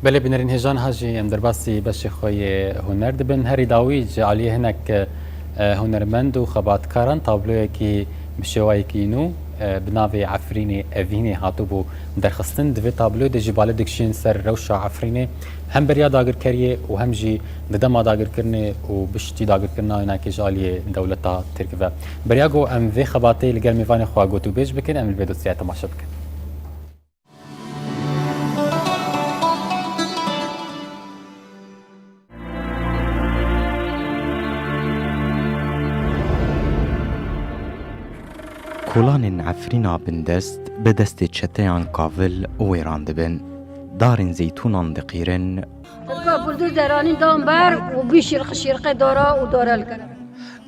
Belê bi nirîn hêjan ha jî em derbasî beşê xwe yê huner dibin. Herî dawî ji aliyê hinek hunermend û xebatkaran tabloyekî bi şêwayekî nû bi navê Efrînê Evînê hatibû derxistin. Di vê tabloyê de jî bale dikişîn ser rewşa Efrînê hem beriya dagirkeriyê û hem jî di dema dagirkirinê û biştî dagirkirina hinekê ji aliyê dewleta Tirk ve. Beriya ku em vê xebatê li gel mêvanê xwe gotûbêj bikin, em li vê dosyayê temaşe bikin. Kolanên Efrîna bindest bi destê çeteyan kavil wêran dibin, darên zeytûnan diqîrin,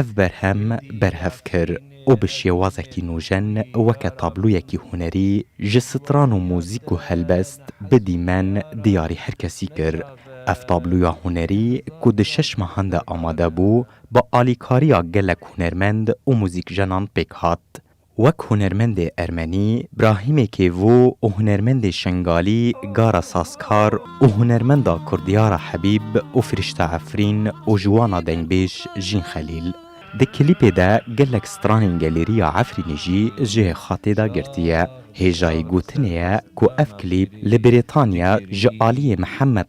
Ev berhem berhev kir û bi şêwazekî nûjen weke tabloyekî hunerî ji stran û mûzîk û helbest bi dîmen diyarî her kesî kir. Ev tabloya hunerî ku di şeş mehan de amade bû, bi alîkariya gelek hunermend û mûzîkjenan pêk hat. Wek hunermendê ermenî Brahîmê Kêvo û hunermendê şengalî Gara Sazkar û hunermenda Kurdiyara Hebîb û Firîşte Efrîn û ji wan a dengbêj Jîn Xelîl. Di klîpê de gelek stranên gelêriya Efrînê jî ji hê xatê de girtiye. Hêjayî gotinê ye ku ev klîp li Brîtanya ji aliyê Mihemed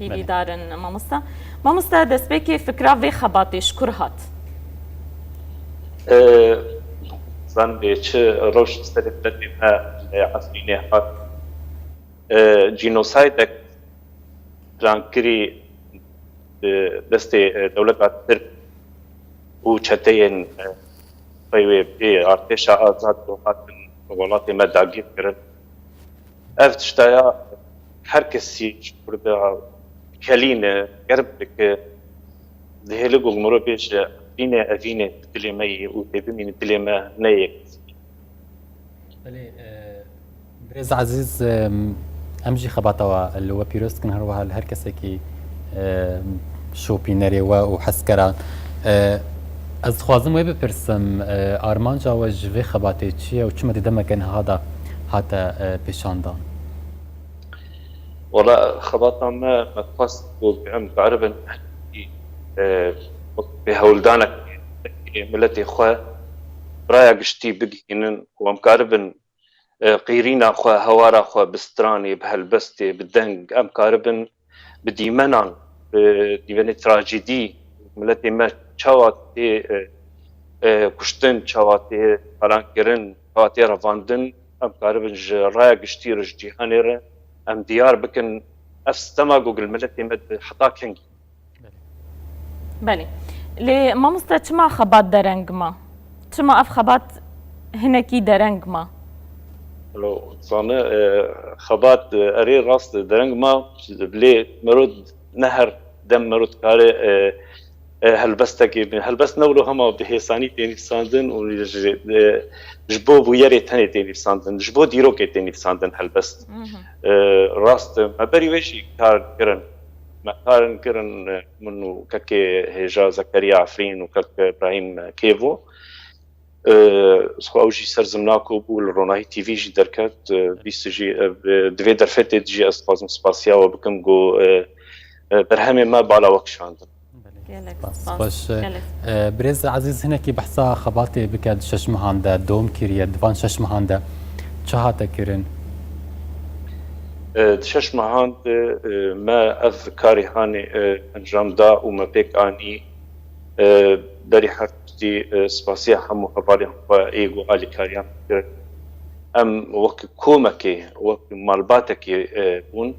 Hêvî dar in mamosta. Mamosta destpêkê fikra vê xebatê ji kur hat? Nizanim bi çi rewşê serê bi derbê me li Efrînê hat. Cînosaydek plankirî bi destê dewleta Tirk û çeteyên xwe wê bi artêşa azad ku hatin welatê me dagîrkirin. Ev tişta ya Her kesî ji Kurda kelîn e, germ dike, dihêle ku mirov bêje Efrînê, Evînê di dilê me yê û dê bimîne dilê me ne yê kesî. Belê birêz ezîz em jî xebata we li we pîroz dikin her wiha li her kesekî şopînerê we û hezkera. Ez dixwazim wê bipirsim armanca we ji vê xebatê çi ye û çima di demeke niha de hate pêşandan? Wala xebata me me dixwest ku bi em biceribin wek bi hewldanek miletê xwe raya giştî bigihînin ku em karibin qîrîna xwe hewara xwe bi stranê bi helbestê bi deng em karibin bi dîmenan bi dîmenê trajîdî miletê me çawa tê kuştin, çawa tê talankirin, çawa tê revandin em karibin ji raya giştî re ji cîhanê re em diyar bikin ev stema ku miletê me di heta kengî Belê. Lê mamoste çima xebat dereng ma? Çima ev xebat hinekî dereng ma? Sane xebat erê rast dereng ma lê mero ne her dem mero dikare helbestekê bîne. Helbest ne wilo hema bi hêsanî tê nivîsandin û ji bo bûyerê tenê tê nivîsandin, ji bo dîrokê tê nivîsandin helbest. Rast e. Me berî wê jî kar kirin. Me kar in kirin min û kekê hêja Zekeriya Efrîn û kek Brahîm Kêvo. Xwe ew jî ser zimna ku bû li Ronahî TV jî derket. Bîst jî di vê derfetê de jî ez dixwazim spasiya we bikim ku berhemên me bala we kişandin. Gelek spas. Birêz ezîz hinekî behsa xebatê bike di şeş mehan de dom kiriye di van şeş mehan de çi hate kirin? Di şeş mehan de me ev karê hanê encam da û me pêk anî berî her tiştî spasiya hemû hevalên xwe yê ku alîkariyan kirin. Em wek komekê wek malbatekê bûn.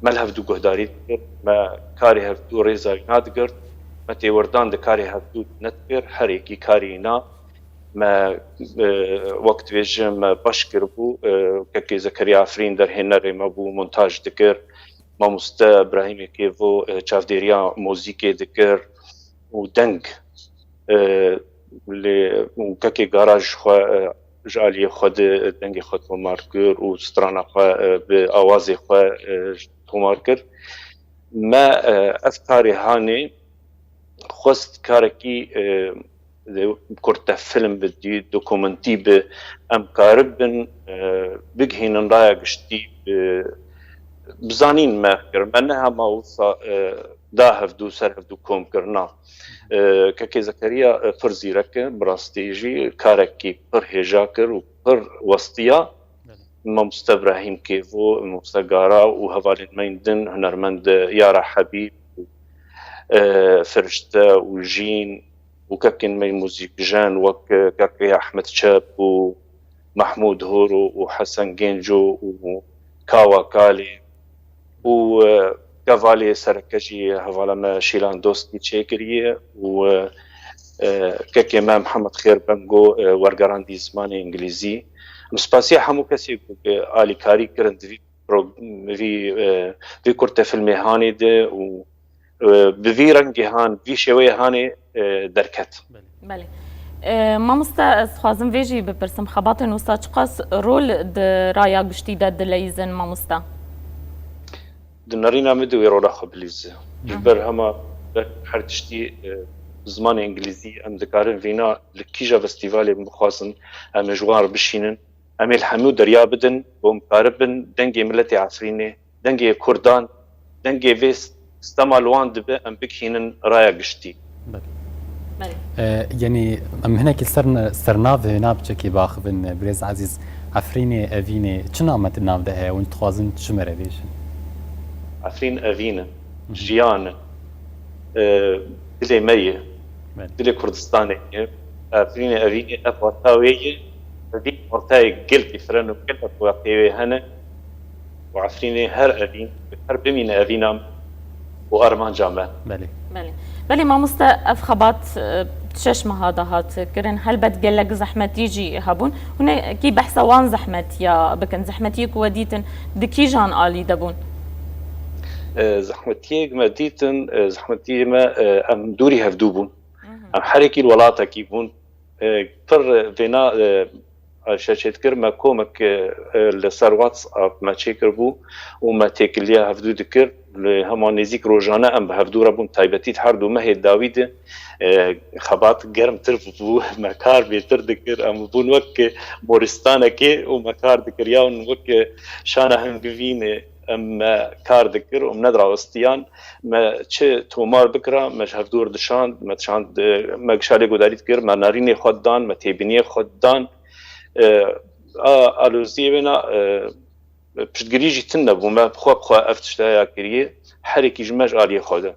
Me li hevdû guhdarî dikir, me karê hevdû rêza wî nadigirt, me têwirdan di karê hevdû de nedikir, her yekî karê wî na. Me wek dibêjin me baş kiribû, kekê Zekeriya Efrîn derhênerê me bû, montaj dikir, mamoste Brahîmê Kêvo çavdêriya mozîkê dikir û deng lê kekê garaj xwe Ji aliyê xwe di dengê xwe tomar kir û strana xwe bi awazê xwe tomar kir. Me ev karê hanê xwest karekî kurt te film bi dî dokumentî bi em karibin bigihînin raya giştî bi bizanîn me fikir me neha ma wisa da hevdu ser hevdu kom kir na. Keke Zekeriya pir zîrek e, bi rastî jî karekî pir hêja kir û pir westiya. Mamoste Brahîm Kêvo, Mamoste Gara û hevalên me yên din hunermend Yara Hebîb û Firişte û Jîn û kekên me yên muzîkjen wek Keke Ehmed Çep û Mehmûd Horo û Hesen Gênco û Kawa Kalê, û kevalê sereke jî hevala me Şîlan Dostkî çêkiriye û kekê me Mihemed Xêr Bengo wergerandî zimanê Îngilîzî. Em spasîya hemû kesê ku alîkarî kirin di vî vî kurtefîlmê hanê de û Bi vî rengê han, vî şêweyê hanê derket. Belê. Mamoste ez xwazim vê jî bipirsim xebatên wisa çiqas rol di raya giştî de dileyîzin mamoste? Di nerîna min de wê rola xwe bilîze. Ji ber hema ber her tiştî bi zimanê îngilîzî em dikarin vîna li kîja festîvalê min bixwazin em ji wan re bişînin. Em ê li hemû derya bidin û em karibin dengê miletê Efrînê dengê kurdan, dengê vê stema li wan dibe em bigihînin raya giştî. Yanî em hinekî ser sernavê navçekê biaxivin birêz Ezîz, Efrînê, Evînê çima me di nav de heye? Hûn dixwazin çi me re bêjin? Efrîn evîn e, jiyan e, dilê me ye, dilê Kurdistanê ye. Efrînê evînê ev wata wê ye, bi vî watayê gel dîfiren û gelek wateyê wê hene. û Efrînê her evîn bi her bimîne evîna me û armanca me. Belê. Belê. Belê mamoste ev xebat tu şeş meha de hat kirin. Helbet gelek zehmetî jî hebûn. Hûn ê kî behsa wan zehmetiya bikin. Zehmetiyê ku we dîtin di kîjan alî de bûn? Zehmetiyê ku me dîtin, zehmetiyê me em dûrî hevdû bûn. Em herekî li welatekî bûn. Pir vêna Ayşe Çêtkir, Me komik li ser WhatsApp me çêkiribû û me têkiliya hevdû dikir. Li hema nêzîk rojane em bi hevdû re bûn. Taybetî di her du mehê dawî de xebat germtir bû. Me kar bêtir dikir. Em bûn wek moristanekê û me kar dikiriya û wek şana hingivînê. Em me kar dikir û em nedirewestiyan. Me çi tomar bikira me ji hev dûr dişand. Me dişand me gişalê gudarî dikir, me narînê xwe didan, me têbîniyê xwe didan. A aloziyê wêna piştgirî jî tune bû. Me bi xwe bi xwe ev tişte ya kiriye. Herêkî ji me ji aliyê xwe de.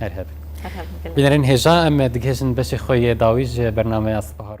Her hev. Her hev. Bînerên hêja em digihêjin beşê xwe yê dawî ji bernameya Sibahar.